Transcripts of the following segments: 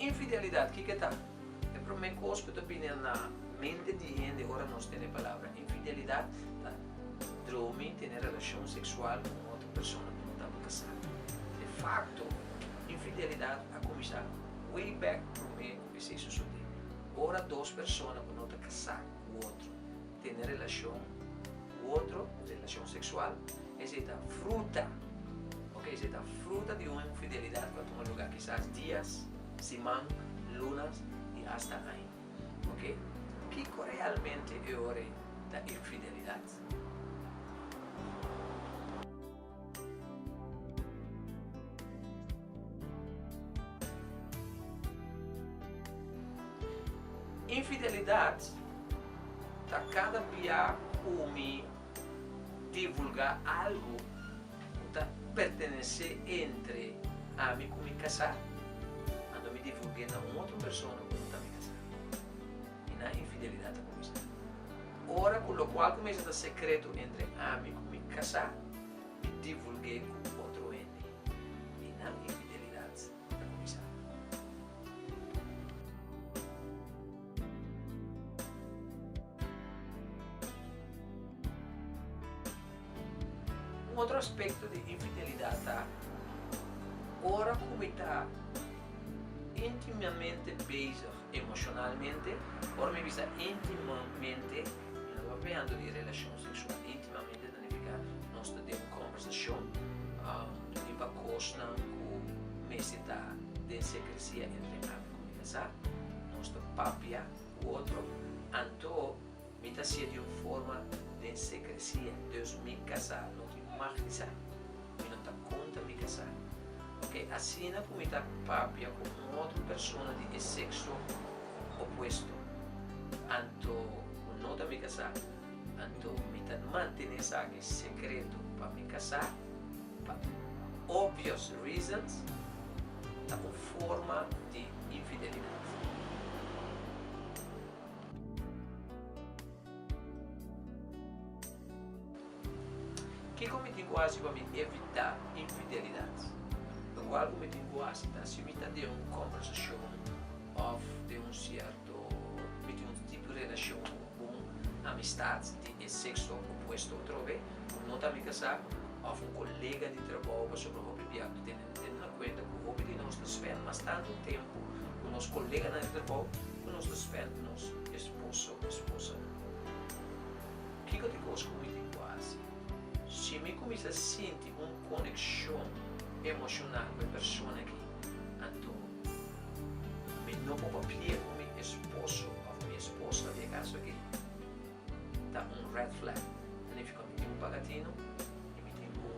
Infidelidad, kiko e ta? E promé kos ku ta bini na mente di hende ora nos tene e palabra infidelidad ta dromi, tene relashon seksual ku un otro persona ku no tabata kasá. Defakto. Infidelidad a cuminsa way back prome cu esey sosode, ora dos persona cu no ta casá cu otro tene relacion cu otro, relacion sexual, esey ta fruta, oke, esey ta fruta di un infidelidad cu a tuma lugar kisas dias, siman, lunas y hasta aña, oke. Kico realmente e ora ey ta infidelidad? Infidelidad ta cada bia cu mi divulga algo cu ta pertenece entre ami cu mi casa, anto mi divulgae na un otro persona cu no ta mi casa. Y na infidelidad ta cuminsa. Ora ku lokual ku mester ta sekreto entre ami ku mi kasá mi divulg'é ku otro hende, i nan infidelidat ta kuminsá. Un otro aspekto di infidelidat ta ora ku mi ta intimamente bezig Emocionalmente, Ora mi bisa intimamente, mi no ta playando di relacion sexual. Intimamente ta nifica nos ta den un conversacion riba cosnan cu mester ta den secrecia entre ami cu mi casá. Nos ta papia cu otro anto. Mi ta haci'e di un forma den secrecia, dus mi casá no tin mag di sa. Mi no ta cunta mi casá. Ok, asina cu mi ta papia cu un otro persona di e sexo opuesto, anto cu no ta mi casá, anto mi ta mantene esaki secreto pa mi casá, pa obvious reasons, ta un forma di infidelidad. Kiko mi tin ku hasi pa mi evitá infidelidat? Lo kual ku mi tin ku hasi ta si mi ta den un kòmbersashon òf den un sierto mi tin un tipo di relashon ku un bon amistat di e sekso opuesto atrobe ku no ta mi kasá òf un kolega di trabou pasobra hopi bia ku mi tene. Tene na kuenta ku hopi di nos ta spend mas tantu tempu ku nos koleganan di trabou ku nos ta spend ku nos esposo o esposanan. Kiko ta e kos ku Witty ku a hasi? Si mi kuminsá sinti un konekshon emoshonal ku e persona aki, anto mi no por papia ku mi esposo òf mi esposa di e kaso aki? Ta un red flag. Ta nifica mi tin un pagatino y mi tin cu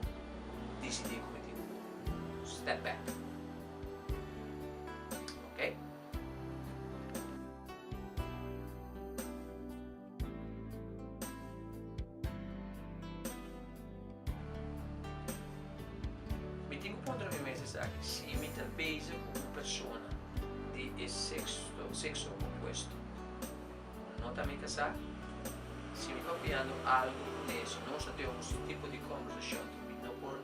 dicidi cu mi tin cu step back. Ok. Mi tin cu puntra mi mes esaki, si mi ta beza cu un persona di e sexo opuesto. No ta mita sa? Si mi papiando algu ku Neso, nos a tene un su tipo di kombersashon ku mi no por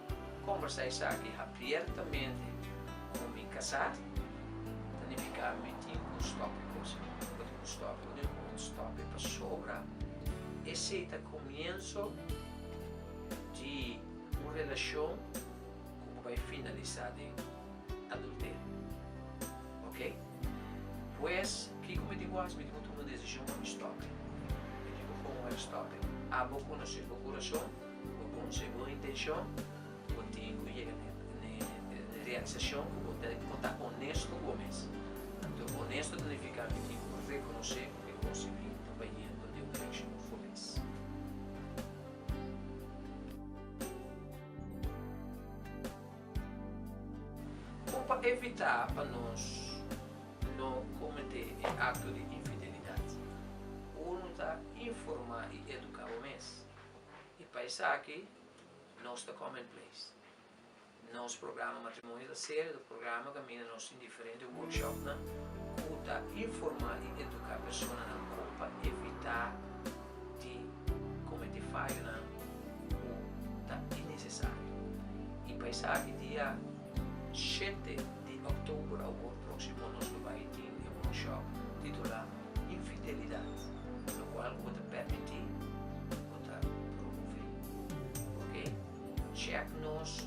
kombersa esaki habiertamente ku mi kasá, ta nifiká mi tin ku stòp e kos. Bo tin ku stòp, bo tin ku un stòp e pasobra esei ta komienso di un relashon ku bo bai finalisá den. adulterio. Ok? Pues, kiko mi tin ku hasi? Mi tin ku tuma un desishon pa mi stòp'e. I kiko for ku mi a stòp'e? Abo konosé bo kurason, bo konosé bo intenshon, bo tin ku yega n'e realisashon ku bo ta bo ta onesto ku bo mes. Anto, onesto ta nifiká mi tin ku rekonosé ku e konsiuminto ta yendo den un direkshon fules. Bo pa evitá pa nos no kometé e akto di infidelidat, unu ta informá i eduká bo mes. I pa esaki nos ta Common Place. Nos programa matrimonio ta serio, ta programa kaminda nos tin di. Diferente workshopnan ku ta informá i eduká personanan kon pa evitá di kometé fayonan ku ta innesesario. I pa esaki dia shete di òktober awor próksimo nos lo bai tin e workshop titulá Infidelidat, lokual ku ta pèrmití ku ta promové. Oke, chèk nos.